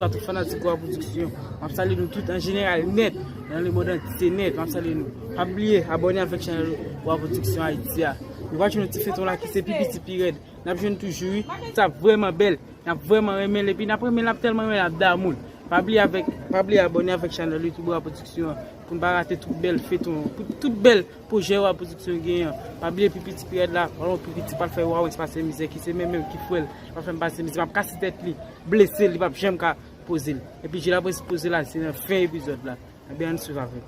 Tout fanatik Gwa Production, map salye nou tout an jeneral nèt, nan le mond antye nèt, map salye nou. Pa bliye abòne avèk chanèl Gwa Production Haïti a. Nou pral jwenn yon ti feyton la ki se pi piti pi rèd. Nap jwenn toujou wi. Sa vrèman bèl. Nap vrèman renmen l epi nap renmen l ap tèlman renmen l ap damou l. Pa bliye avèk, pa bliye abòne avèk chanèl YouTube Gwa Production an pou n pa rate tout bèl feyton, tout bèl. Pou jè wa pwodiksyon gen an. Pa bliye pi piti pirèd la, pa lwen pi piti pral fè wa wè se pa sè mizè ki se men menm ki fwèl li pral fè m pase mizè map kase tèt li blesel li pap janm ka poze l epi je la pwese poze la se nan fen epizòd la ebyen ann swiv avèm.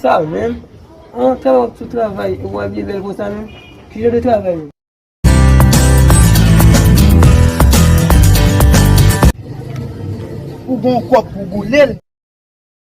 Sa menm? An tan wap sou travay ou wap byen bel kon sa menm? Ki jan de travay menm? Ou gon kòb pou boulel?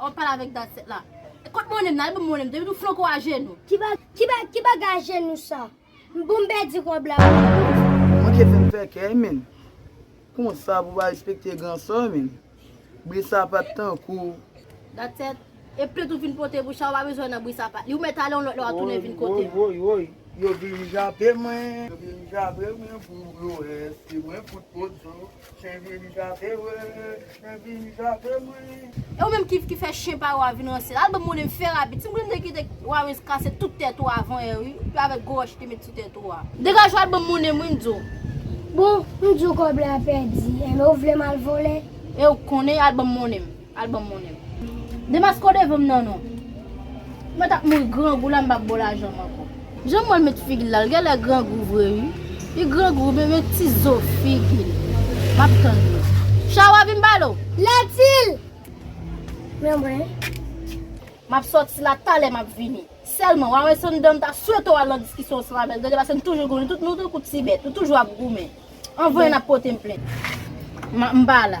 Wap pale avek dat 7 la. Kot monem nan, ale banm monem depi nou flanko a jenou. Ki bagay a jenou sa. M bon m pèdi rob la pou mwen. Bondye fè m fè kèy menn. Konsa pou pa respekte gran sè w menn. Bri sapat tankou w. Dat 7, e plant ou vin pote pou Chawa pa bezwen nan bri sapat li. Ou mèt ale yon lòt lè wap tounen vin kote m. Woy woy woy yo vin jape mwen. Yo vin jape mwen pou yo wè se mwen fout pozo. Chen vin jape mwen, chen vin jape mwen. E ou menm ki ki fè chen pa ou a vin ranse la, al banm monnen m fè rapid, si m konnen m te kite Warens kase tout tèt ou avan yè wi, epi avèk gwo wòch li te met sou tèt ou a. Degaj ou al banm monnen m wi m di w. Bon, m di w kòb la pèdi, enben ou vle m al vole? E ou konnen, al banm monnen m. Al banm monnen. Demasco devanm nan non. Mwen tap mouri grangou la m pap baw lajanm anko. Jan m wèl met figil la l gèlè grangou vre ui li grangou wi men ti zo figil map tann li Chawa vin balo. Latil nan mwen. Map soti la talè map vini. Sèlman wa wè Sanndan m ta swete w al nan diskisyon ansanm avèl gade pase m toujou goumen tout nou tankou ti bèt ou toujou ap goumen anvan yon ap pote m plent. M pa la.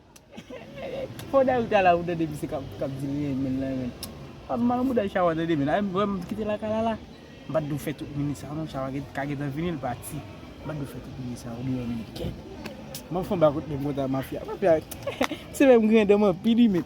Fo dayou ta la ou tande misye kap di li renmen l renmen l Pap mal mouda chawa tande men Ayy m wè m kite lakay la la M pat dwe fè tout minit sa non chawa ka gentan vini l pati M pat dwe fè tout minit sa oubyen yon minit kèt Map fon bak kote m kontan mafya Mafya se fè m griyen dan m anpil ui menn.